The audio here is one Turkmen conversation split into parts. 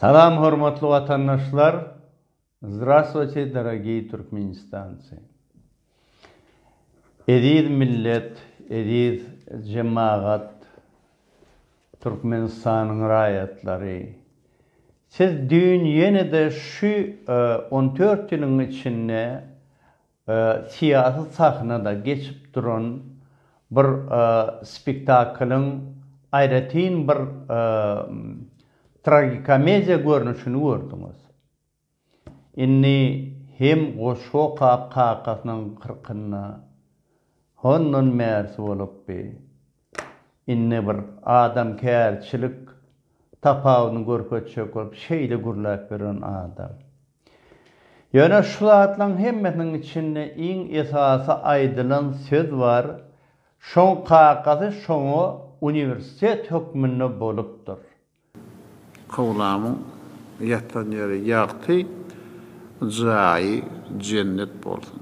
Salam hormatly watandaşlar Zdrastvoyte dorogiý Türkmenistancy Eziz millet eziz jemagat Türkmenistanyň raýatlary Siz düýn ýene-de şu on dört ýylyň içinde syýasy sahnada geçip duran bir spektaklyň aýratyn bir tragikomediýa görnüşini gördüňiz. Indi hem goşgy okap kakasynyň kyrkynda hondan märsi bolupdy. Indi bir adamkärçilik tapawudyny görkezjek bolup şeýle gürläp ýören adam. Ýöne şu zatlaryň hemmesiniň içinde iň esasy aýdylan söz bar, şoň kakasy şoňa uniwersitet hökmünde bolupdyr. Kowlamyň ýatan ýeri ýagty, jaýy jennet bolsun.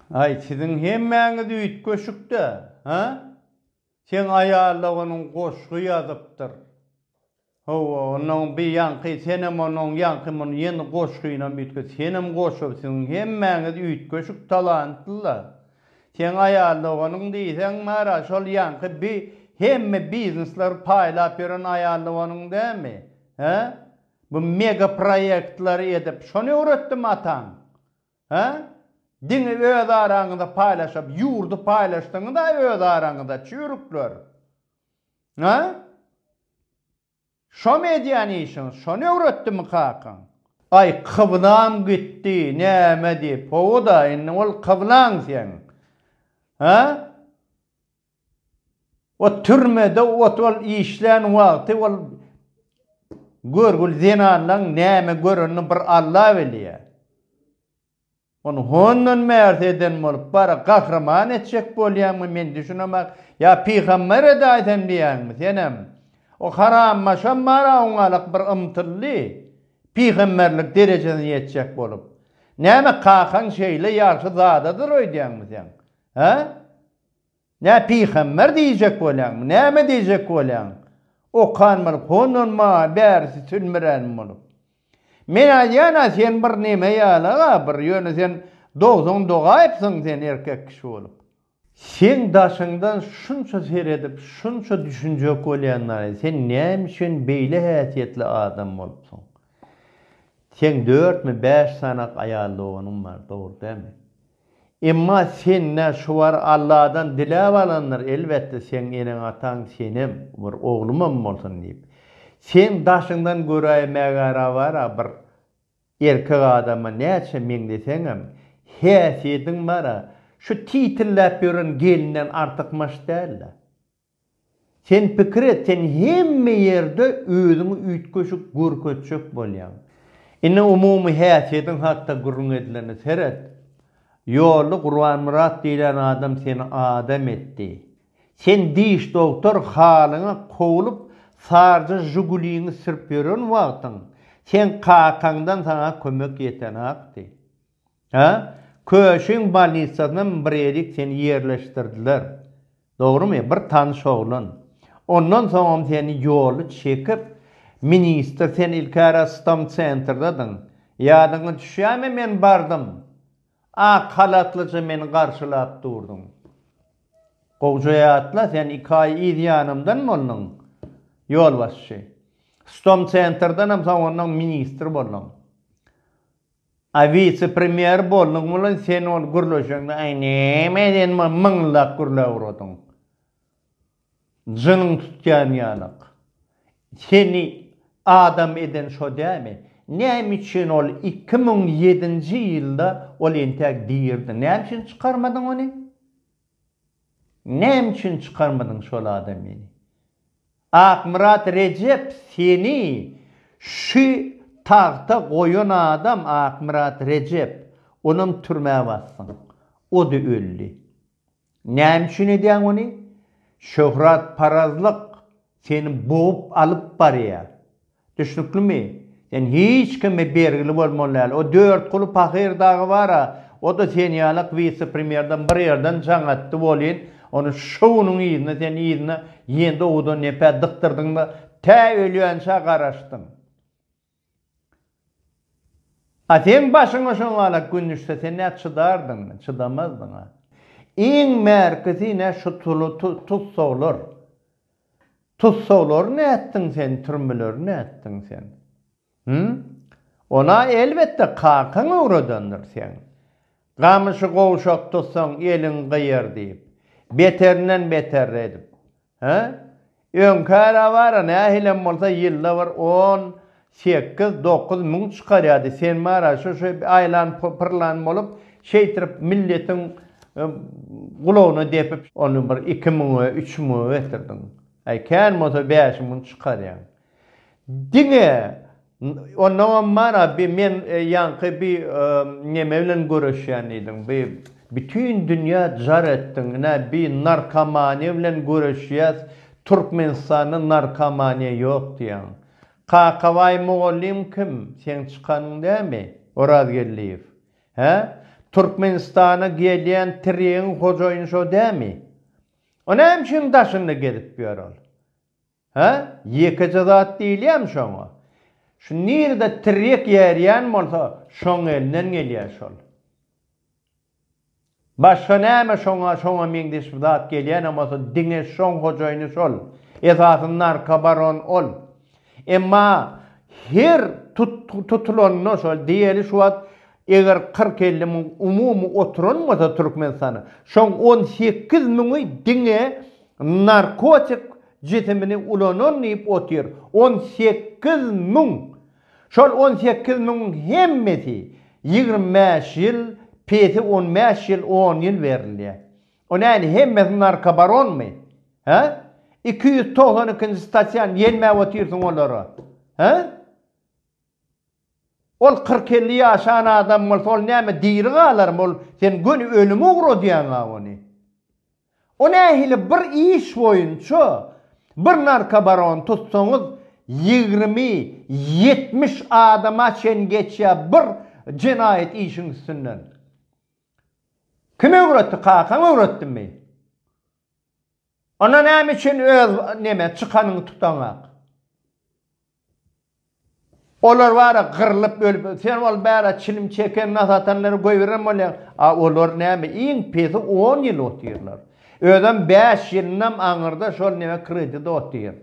Aý siziň hemmäňiz üýtgeşikdä hä seň aýaloganyň goşgy ýazypdyr hawa onuň bir ýaňky senem onuň ýaňky muny ýene goşgynam üýtge senem goşgy siziň hemmäňiz üýtgeşik talantlylar Seň aýal doganyň diýseň bara şol ýaňky bi hemme biznesleri paýlap ýören aýal doganyň dämi? Hä? Bu mega proýektleri edip şony öwretdimi ataň? Hä? Diňe öz araňyzda paýlaşyp ýurdy paýlaşdyňyz-a öz araňyzda çüýrükler. Hä? Şomy edýän işiň, şony öwretdimi kakaň? Aý, kyblam gitdi, näme diýip, hawa-da, indi bol kyblaň seň. Hä? O türmede ot ol işlän wagty ol görgüli zenanlaň näme görenini bir Alla bilýä. Ony hondan märz eden bolup bar, gahryman etjek bolýaňmy men düşünemak, ýa pygamber edaýsem diýýäňmi senem? O harammaşam bara oňalyk bir ymtyldy, pygamberlik derejesine ýetjek bolup. Näme kakaň şeýle ýagşy zadadyr öýdýäňmi sen? Hä? Nä pygamber diýjek bolýaňmy, näme diýjek bolýaň? Okan bolup, hondan maňa bärisi sünmüränim bolup. Men aýdýan-a sen bir neme ýala-a bir, ýöne sen dogsan dogaýypsyň sen erkek kişi bolup. Seň daşyňdan şunça seredip, şunça düşünjek bolýandan-a sen näme üçin beýle häsiýetli adam bolupsyň? Seň dörtmi, bäş sanak aýal doganyň bar, dogry dälmi? Emma sen nä şubar Alladan diläp alandyr, elbetde seň eneň-ataň senem, bir oglumam bolsun diýip. Seň daşyňdan göräý mägärabara bir erkek adama näçe meňzeseňem, häsiýediň bara, şu titilläp ýören gelinden artykmaç däl-le. Sen pikir et, sen hemme ýerde özüňi üýtgeşik görkezjek bolýaň. Indi umumy häsiýediň hakda gürrüň edilende seret. Ýolda Gurbanmyrat diýlen adam seni adam etdi. Sen diş dogtor halyňa kowlup sarja žuguliňi sürüp ýören wagtyň, seň kakaňdan saňa kömek ýetenakdy. Hä? Köşüň bolnitsasynam birejik seni ýerleşdirdiler. Dogrumy? Bir tanyş oglan. Ondan soňam seni ýoly çekip, ministr, sen ilki Rostom Centrdadyň. Ýadyňa düşýärmi, men bardym. Ak halatlyja meni garşylap durduň. Gowja ýatla, sen iki aý yz ýanymdan bolduň, ýolbaşçy. Stom Centrdanam soňundan ministr bolduň. A wise premýer bolduň bilen sen ol gürleşeňde aý näme eden men myňlap gürläp uradyň. Jynyň tutýan ýalak. Seni adam eden şo dämi? Näme üçin ol iki müň ýedinji ýylda ol entäk birdi? Näme üçin çykarmadyň ony? Näme üçin çykarmadyn şol adamyny. Akmyrat Rejep seni şu tagta goýan adam Akmyrat Rejep onam türmä bassyň. Ody öldi. Näme üçin edýäň ony? Şöhrat parazlyk. Seni bogup alyp barýar. Düşnüklimi? Sen hiç kime bergili bolmaly däl. O Dörtguly pahyr dagy bar-a, o-da sen ýalak wise-premýerden bir ýerden jaň atdy welin, ony şo günüň yzyna sen yzyna ýendowudan nepä dykdyrdyň-da, tä ölýänçä garaşdyň. A seň başyňa şoňalak gün düşse, sen nä çydardyňmy? Çydamazdyň-a. Iň bärkisi ine şu tussaglar. Tussaglary nätdiň sen, türmeleri nätdiň sen? Hü? Ol-a, elbetde, kakaň öwredendir seň. Gamyşy gowşak tutsaň eliň gyýar diýip, beterinden beter edip, hä? Öňkä-ä bar-a nähilem bolsa ýylda bir on sekiz, dokuz müň çykarýardy, sen bar-a şo-şo aýlan-pyrlan bolup, şeýtirip milletiň gulagyna depip, ony bir iki müňe, üç müňe getirdiň. Äý, kän bolsa bäş müň çykarýaň. Diňe Onnoňam bara bi men ýaňky bi neme bilen göreşýän diýdiň bi bütin dünýä jar etdiň ine bi narkomaniýa bilen göreşýäs Türkmenistanda narkomaniýa ýok diýýäň. Kakabaý mugallym kim? Seň çykanyň dämi? Orazgeldiýew. Hä? Türkmenistana gelýän tiregiň hojaýyny şo dämi? O näme şuň daşynda gezip ýör ol? Hä? Ýekeje zat diýilýärmi şoňa? Şu nirede tirýek ýerýän bolsa, şoň elinden gelýär şol. Başga näme şoňa, şoňa meňzeş bir zat gelýänem bolsa, diňe şoň hojaýyny şol. Esasy narkobaron ol. Emma her tutulanda şol, diýeli şu wagt eger kyrk-elli müň umumy oturan bolsa Türkmenistana, şoň on sekiz müňi diňe Narkotik jisimini ulanan diýip otyr on sekiz müň. Şol on sekiz müňüň hemmesi ýigrimi bäş ýyl, pesi on bäş ýyl, on ýyl berilýär. O nädip hemmesi narkobaronmy? Hä? Iki ýüz togsan ikinji statýany ýelmäp otyrsyň olara. Hä? Ol kyrk-elli ýaşan adam bolsa ol näme diri galarmy ol sen göni ölüme ugradýaňa ony. O nähili bir iş boýunça bir narkobarony tutsaňyz ýigrimi, ýetmiş adama çen geçýä bir jenaýat işiň üstünden. Kim öwretdi kakaň öwretdimi? Onda näme üçin öz neme çykanyňy tutaňak. Olar bara gyrlyp ölüp sen ol bära çilim çeken nasatanlary goýberen bolýaň a olar näme iň pesi on ýyl otyrlar özem bäş ýylynam aňyrda şol neme kredit otyr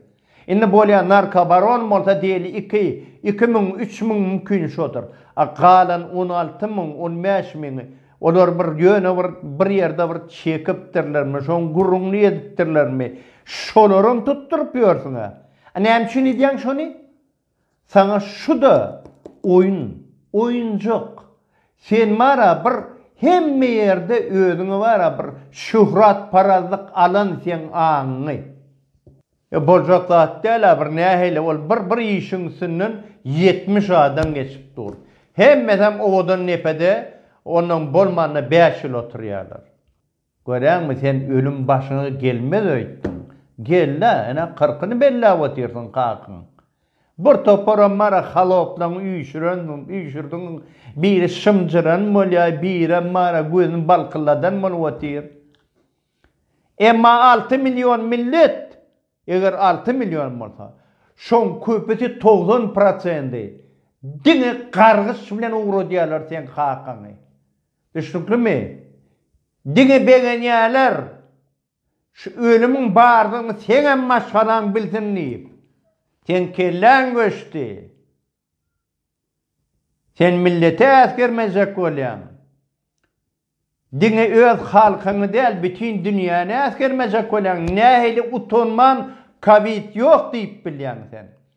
indi bolýa narkobaron bolsa diýeli iki iki müň üç müň mümkin şodur a galan on alty müň on bäş müňi olar bir ýöne bir bir ýerde bir çekipdirlermi şoň gürrüňini edipdirlermi şolaram tutduryp ýörsüň a. A näme üçin edýäň şony? Saňa şu-da oýun, oýunjak. Sen bar-a bir hemme ýerde özüňe bar-a bir şöhratparazlyk alan seň aňyňy. E, boljak zat däl-a bir nähili ol bir bir işiň üstünden ýetmiş adam geçip dur. Hemmesem owadan depede onnoň bolmanda bäş ýyl oturýarlar. Göräňmi, sen ölüm başyňa gelmez öýtdüň. Gel-de, ene, kyrkyny belläp otyrsyň kakyň. Bir toparam bar-a, haloplaň üýşürendiň, üýşürdiň, biri şymjyran bolýar, birem bar-a, gözüni balkylladan bolup otyr. Emma alty million millet, eger alty million bolsa, şoň köpüsi, togsan prosendi, diňe gargyş bilen ugradýarlar seň kakyňy. Düşnüklimi? Diňe begenýäler, şu ölümiň bardygyny seňem maşgalaň bilsin diýip. Seň kelläň göçdi. Sen millete äsgermejek bolýaň. Diňe öz halkyňy däl, bütin dünýäni äsgermejek bolýaň. Nähili utanman kowid ýok diýip bilýäň sen?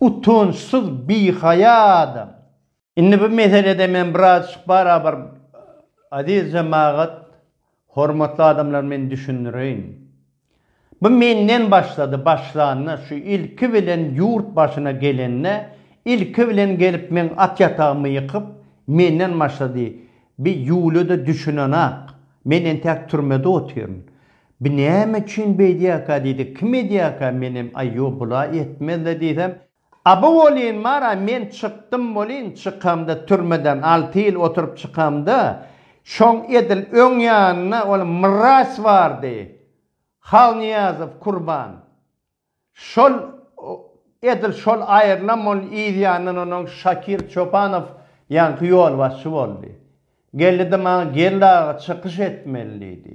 Utançsyz bihaýa adam. Indi bu meselede men birazjyk barabar aziz jemagat, hormatly adamlar men düşündireýin. Bu menden başlady, başlanda şu ilki bilen ýurt başyna gelende ilki bilen gelip meň at ýatagymy ýykyp menden başlady. Bi ýuly-da düşünenak. Men entäk türmede otyryn. Bu näme üçin beýdýärka diýdi, kim edýärka, menem aý ýok bula etmezle diýsem, Aba bolýyn bara men çykdym bolýyn, çykamda türmeden alty ýyl oturyp çykamda, şoň edil öň ýanynda ol mraz bardy, Halnyýazow Kurban. Şol, edil şol aýrylam ol yzýandan onuň Şakir Çopanow ýaňky ýolbaşçy boldy. Geldi-de maňa Geldi aga çykyş etmeli diýdi.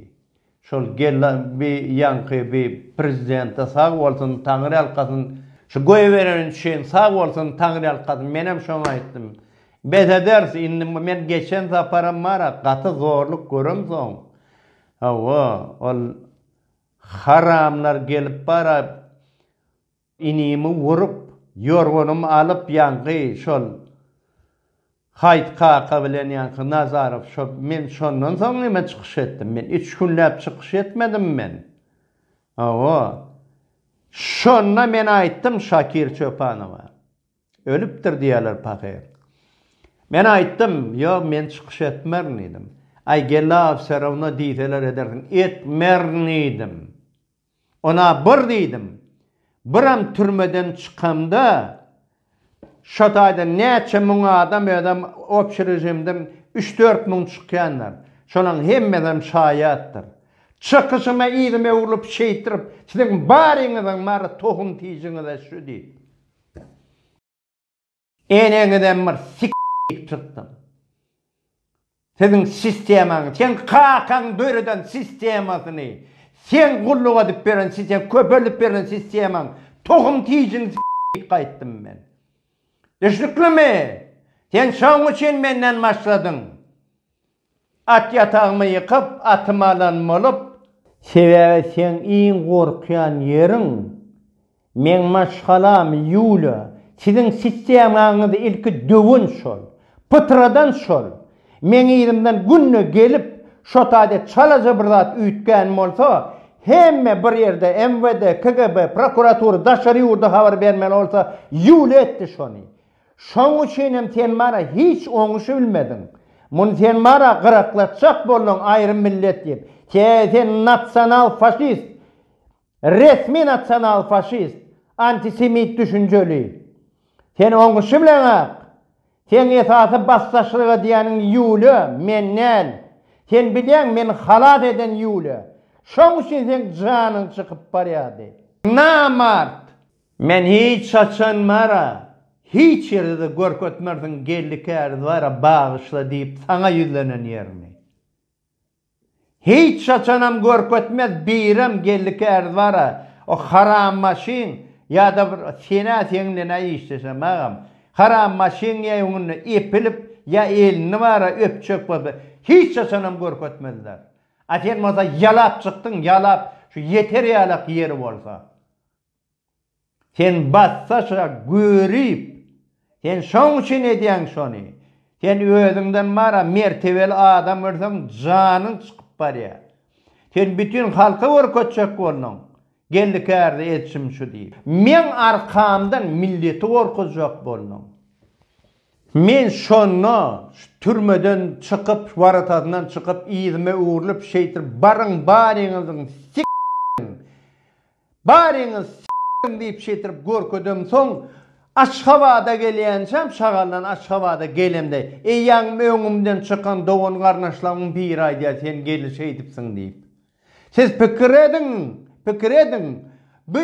Şol Geldi bi ýaňky bi prezidente sag bolsun, taňryýalkasyn, şu goýberen üçin sag bolsun, taňryýalkasyn, menem şoňa aýtdym. Bes ederis, indi men geçen saparam bar-a, gaty zorluk göremsoň, hawa, ol, Haramlar gelip bara inimi urup, ýorganymy alyp ýaňky şol Haýt kaka bilen ýaňky Nazarow şo men şondan soň neme çykyş etdim men üç günläp çykyş etmedim men hawa şonda men aýtdym Şakir Çopanowa. Ölüpdir diýýärler pahyr. Men aýtdym, Ýok, men çykyş etmerin diýdim. Aý, gella wserawno diýseler edersiň. Etmerin diýdim. Ona bir diýdim. Biram türmeden çykamda, şo taýdan näçe müň adam özem opşi režimden üç-dört müň çykýandyr. Şolaň hemmesem şaýatdyr. Çykyşyma yzyma öwrülip şeýtirip, Siziň baryňyzyň bary tohum-tijiňiz-ä şu diýip. Eneňizem bir s**k diýip çykdym. Siziň sistemaňyz, seň kakaň döreden sistemasyny, seň gulluk edip beren siseň köpeldip beren sistemaň tohum tijini s**k diýip gaýtdym men. Düşnüklimi? Sen şoň üçin menden başladyň. At ýatagymy ýykyp, atymy alan bolup. Sebäbi seň iň gorkýan ýeriň, meň maşgalam Ýuliýa. Siziň sistemaňyzy ilki döwen şol, pytradan şol. Meň yzymdan günde gelip, şo taýda çalaja bir zat üýtgän bolsa, hemme bir ýerde, MWD, KGB, prokuratura, daşary ýurda habar bermeli bolsa, Ýuliýa etdi şony. Şoň üçin hem sen mana hiç oňuşy bilmediň. Muny sen mana gyraklatjak bolduň aýrym millet diýip. Sebäbi sen nasional faşist. Resmi nasional faşist. Antisemit düşünjeli. Sen oňuşy bileňak. Seň esasy basdaşlyk edýäniň Ýuliýa, men däl. Sen bilýäň meni halas eden Ýuliýa. Şoň üçin seň janyň çykyp barýardy. Namart! Men hiç haçan Mara hiç ýerde-de görkezmersiň geldi käriz bara bagyşla diýip saňa ýüzlenen ýerini. Hiç haçanam görkezmez birem geldi käriz bara o haram maşyn ýa-da bir senä seň nenä işleşem agam haram maşyn ýa öňünde epilip ýa elini bara öpjek bolsa hiç haçanam görkezmezler. A sen bolsa ýalap çykdyň ýalap şu ýeter ýalak ýeri bolsa. Sen bassaşa görip, sen şoň üçin edýäň şony. Sen özüňden mara mertebeli adam görseň janyň çykyp barýar. Sen bütin halka görkezjek bolduň, geldi-kärde edişim şu diýip. Meň arkamdan milleti gorkuzjak bolduň. Men şonda şu türmeden çykyp, waratasyndan çykyp, yzyma öwrülip, şeýtir, baryň baryňyzyň s**iň, Baryňyz s**iň diýip şetirip görkezem soň Aşgabada gelýänçäm şagallan Aşgabada gelemde eýýäňm öňümden çykan dogan garnaşlarymyň biri aýdýar sen gelin şeýdipsiň diýip siz pikir ediň pikir ediň bu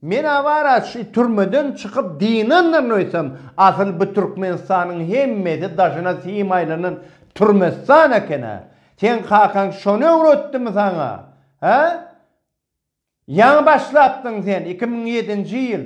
men awara şu türmeden çykyp dynandyryn öýtsem asyl bu Türkmenistanyň hemmesi daşyna sim aýlanan türmestan ekenä sen kakaň şony öwretdimi saňa he Ýaňy başlapdyň sen iki müň ýedinji ýyl.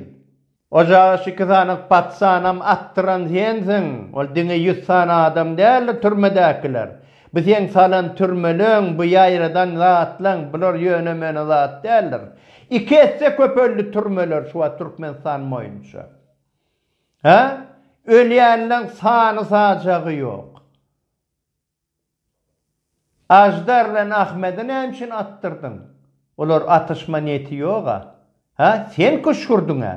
Ojagyş iki sanyk patsanam atdyran sensiň, ol diňe ýüz sany adam däldir türmedäkiler. Bu seň salan türmeleň, bu ýaýradan zatlaň, bular ýöne-möne zat däldir. Iki esse köpeldi türmeler şu wagt Türkmenistan boýunça. Hä? Ölýänleň sany-sajagy ýok. Aždar bilen Ahmedi näme üçin atdyrdyň? Olar atyşma niýeti ýog-a. Hä, sen küşgürdiň-ä.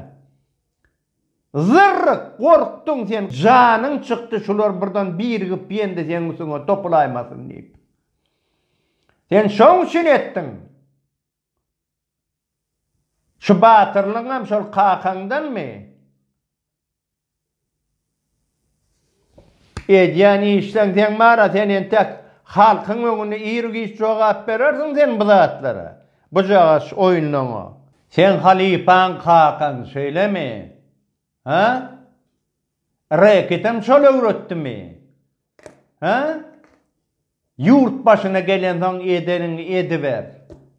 Zyrryk, gorkduň sen, janyň çykdy, şular birden birigip ýendi seň üstüňe topulaýmasyn diýip. Sen şoň üçin etdiň. Şu batyrlygyňam şol kakaňdanmy? Edýän işleň seň bar-a, sen entek halkyň öňünde ir-giç jogap berersiň sen bu zatlara, bujagaz oýunlaňa. Seň halypaň kakaň, şeýlemi? Hä? Reketem şol öwretdimi? Hä? Ýurt başyna gelensoň edeniňi ediber.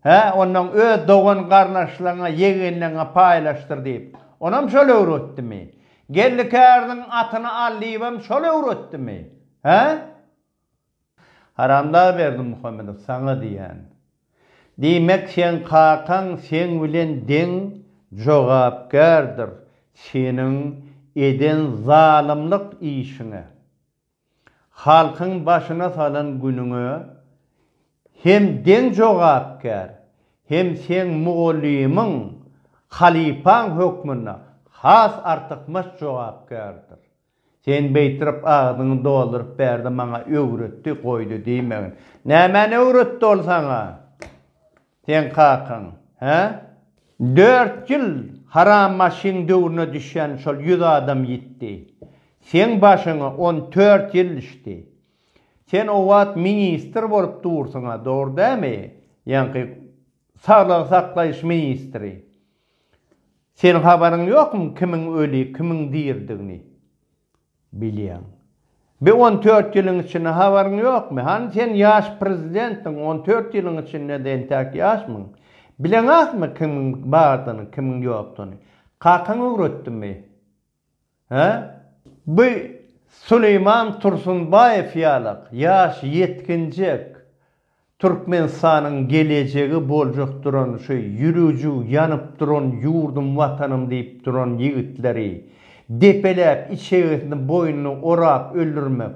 Hä, onnoň öz dogan-garnaşlaryňa, ýegenleriňe paýlaşdyr diýip, onam şol öwretdimi? Geldi käriniň atyny al diýibem şol öwretdimi? Hä? Haramdag Berdimuhamedow, saňa diýýän. Diýmek, seň kakaň seň bilen deň jogapkärdir seniň eden zalymlyk işiňe. halkyň başyna salan günüňe hem deň jogapkär, hem seň mugallymyň, halypaň hökmünde has artykmaç jogapkärdir. Sen beýtirip agzyňy dolduryp bärde maňa öwretdi, goýdy diýmegin. Nämäni öwretdi ol saňa? Seň kakaň, hä? Dört ýyl haram maşyn döwrüne düşen şol ýüz adam ýitdi. Seň başyňa on tört ýyl düşdi. Sen o wagt ministr bolup dursuň-a, dogry dämi? Ýaňky saglygy saklaýyş ministri. Seniň habaryň ýokmy kimiň öli, kimiň diridigini? Bilýäň. Bi on dört ýylyň içinde habaryň ýokmy? Hany sen ýaş prezidentdiň, on dört ýylyň içinde-de entäk ýaşmyň? Bileňakmy kimiň bardyny, kimiň ýokduny? Kakaň öwretdimi? Hä? Bu Süleýman Tursunbaýew ýalak ýaş ýetginjek Türkmenistanyň gelejegi boljak duran şu ýürüjüg ýanyp duran ýurdum watanym diýip duran ýigitleri depeläp içegesini boýnuny orap öldürmek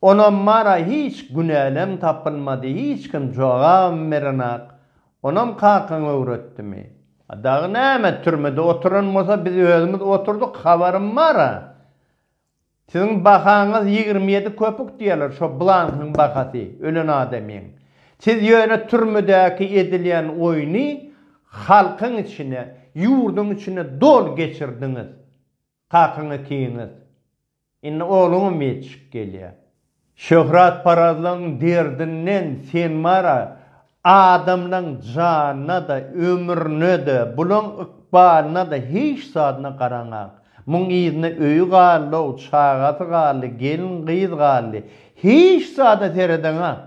onam mana hiç günälem tapylmady hiç kim jogabam berenak onam kakaň öwretdimi a dagy näme türmede oturan bolsa biz özümiz oturdyk habarym bara Siziň bahaňyz ýigrimi ýedi köpük diýerler, şo blankyň bahasy, ölen adamyň. Siz ýöne türmedäki edilýän oýny halkyň içine, ýurduň içine dol geçirdiňiz. Kakyňy kiňiz. Indi ogluňam ýetişip gelýär. Şöhratparazlygyň derdinden sen mara adamlaň janyna-da, ömrüne-de, bulaň ykbalyna-da, hiç zadyna garamaň. Muň yzyna öýi galdy-ow, çagasy galdy, gelin-gyz galdy. Hiç zada seredeňak.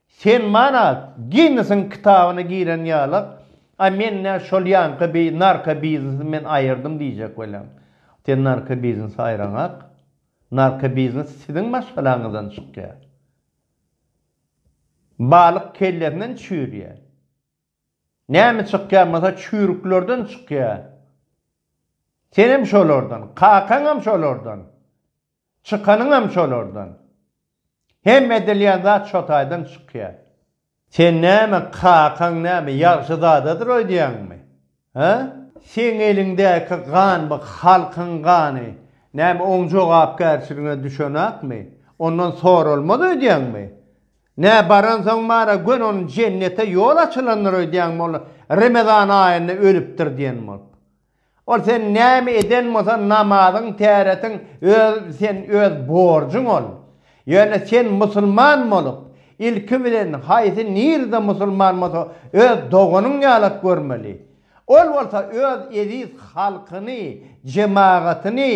Sen mara Ginnesiň kitabyna giren ýalak, a men-ä şol ýaňky bi narkobiznesi men aýyrdym diýjek welin, sen narkobiznesi aýraňak. Narkobiznes siziň maşgalaňyzdan çykýar. Balyk kellesinden çüýrýär. Näme çykýar bolsa çüýrüklerden çykýar. Senem şolardan, kakaňam şolardan. Çykanyňam şolardan. Hemme edilýän zat şo taýdan çykýar. Sen näme, kakaň näme, ýagşy zadadyr öýdýäňmi? Hä? Seň eliňdäki gan bu halkyň gany. Näme oň jogapkärçiligine düşenakmy? Ondan soralmaz öýdýäňmi? Nä baransoň bara göni onuň jennete ýol açylandyr öýdýäňmi ol Remezan aýynda ölüpdir diýen bolup? Ol sen näme eden bolsan namazyň täretin öz sen öz borjuň ol. Ýöne sen musulman bolup ilki bilen haýsy nirde musulman bolsa öz doganyň ýalak görmeli. Ol bolsa öz eziz halkyny, jemagatyny,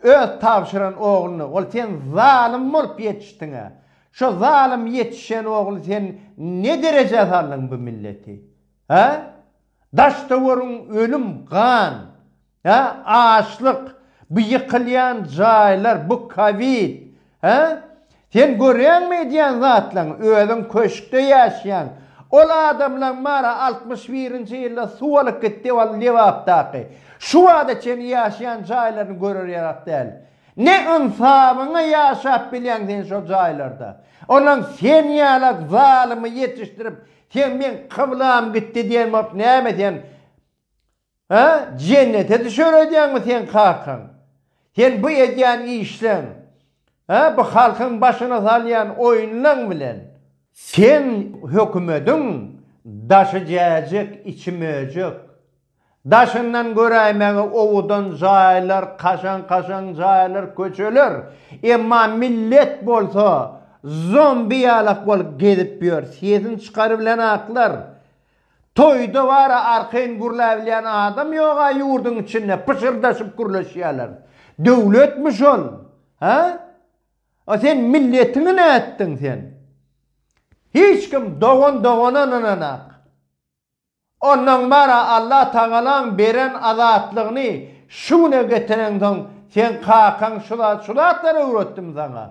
öz tabşyran ogluny ol sen zalym bolup ýetişdiňä. Şo zalym ýetişen ogly sen ne derejä saldyň bu milleti. Hä? Daş-töwerin ölüm, gan, hä, açlyk, bu ýykylýan jaýlar, bu kowid, hä? Sen görýäňmi edýän zatlaryňy? Özüň köşkde ýaşaýaň. Ol adamlaryň bary altmyş birinji ýylda suw alyp gitdi ol Lebapdaky. Şu wagta çenli ýaşaýan jaýlaryny görer ýarak däl. Ne ynsabyňa ýaşap bilýäň sen şol jaýlarda? Olaň sen ýalak zalymy ýetişdirip Sen men kyblam gitdi diýen bolup näme sen Hä? Jennete düşer öýdýäňmi sen kakaň? Sen bu edýän işleň, hä, bu halkyň başyna salýan oýunlaň bilen. Sen hökümediň daşy jäjek, içi möjek. Daşyndan göräýmäge owadan jaýlar, kaşaň-kaşaň jaýlar, köçeler. Emma millet bolsa zombi ýalak bolup gezip ýör. Sesini çykarybilen atlar. Toýda bara arkaýyn gürläbilýän adam ýog-a ýurduň içinde, pyşyrdaşyp gürleşýärler. Döwletmi şol? Hä? A sen milletiňi nätdiň sen? Hiç kim dogan dogana ynananok. Ondan bara Allah Tagalaň beren azatlygyny şu güne getireňsoň seň kakaň şu zat şu zatlary öwretdim saňa.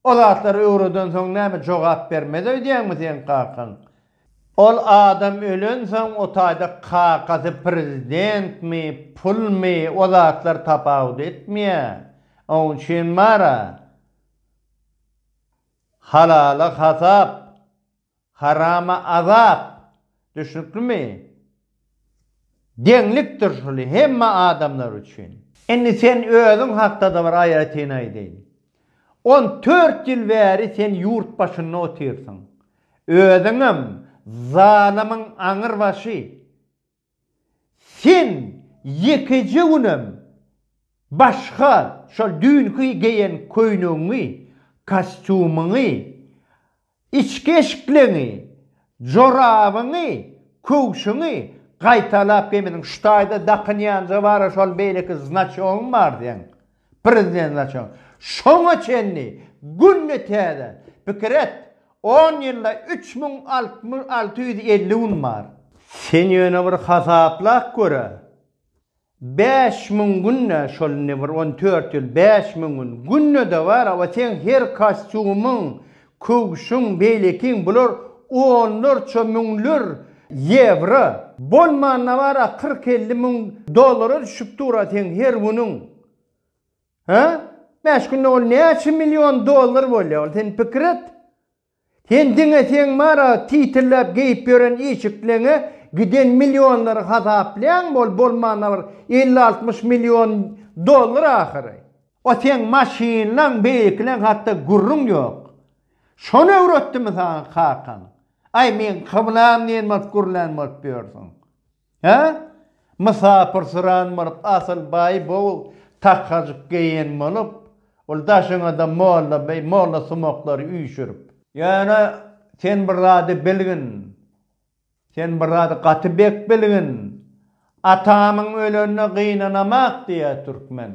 O zatlary öwredensoň näme jogap bermez öýdýäňmi seň kakaň. Ol adam ölensoň o taýda kakasy prezidentmi pulmy o zatlar tapawut etmeýä oň üçin bara halala hasap. Harama azap, düşnüklimi? Deňlikdir şuly hemme adamlar üçin. Indi sen özüň hakdada bir aýratyn aýdaýyn. On dört ýyl bäri sen ýurt başynda otyrsyň. Özüňem zalymyň aňyrbaşy. Sen ýekeje günem başga şol düýnki geýen köýnegiňi, kostýumyňy, içki eşikleňi, jorabyňy, köwşüňi gaýtalap geýmediň. Şu taýda dakynýanja bara şol beýleki znaçogyň bar seň. Prezident Laçon, Şoňa çenli günde täze, pikir et, on ýylda üç müň alty ýüz elli gün bar. Sen ýöne bir hasaplap gör-ä, bäş müň günde, şol indi bir on dört ýyl, bäş müň gün, günde-de bar, hawa, seň her kostýumyň, Köwşüň, beýlekiň bular onlarça müňler ýewro, bolmanda bar-a kyrk-elli müň dollara düşüp dur-a seň her günüň. Hä? Bäş günde ol näçe million dollar bolýa ol, sen pikir et. Sen diňe seň bar-a titilleýip geýip ýören işikleňe giden millionlary hasaplaýaňmy, ol bolmanda bir elli-altmyş million dollar ahyry. O seň maşynlaň beýikileň hakda gürrüň ýok. Şony öwretdimi saňa kakaň? Aý meň kyblam diýen bolup gürlän bolup ýörsüň. Hä? Mysapyrsyran bolup asyl baý bow takajyk geýen bolup, ol daşyňada molla beý, molla sumaklary üýşürip. Ýöne sen bir zady bilgin. Sen bir zady gaty bek bilgin. Atamyň ölenine gynanamak diýýär türkmen.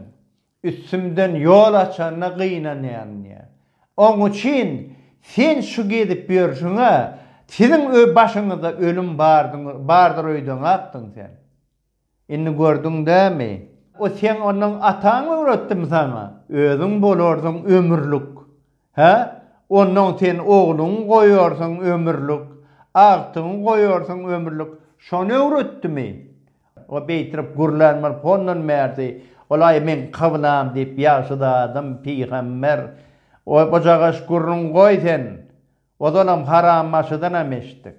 Üstümden ýol açanyna gynanýan diýýär. Oň üçin sen şu gezip ýörşüňe siziň başyňyzda ölüm bardyň bardyr öýdeňakdyň sen. Indi gördüň dämi? O seň ondan ataň öwretdimi saňa? Özüň bolarsyň ömürlik. Hä? Ondan sen ogluňy goýarsyň ömürlik, agtygyňy goýarsyň ömürlik. Şony öwretdimi? O beýtirip gürlän bolup hondan bärsi, Ol-aý meň kyblam diýip ýagşy zadym, pygamber. Ojagaş gürrüň goý sen. Ozalam harambaşydanam eşitdik.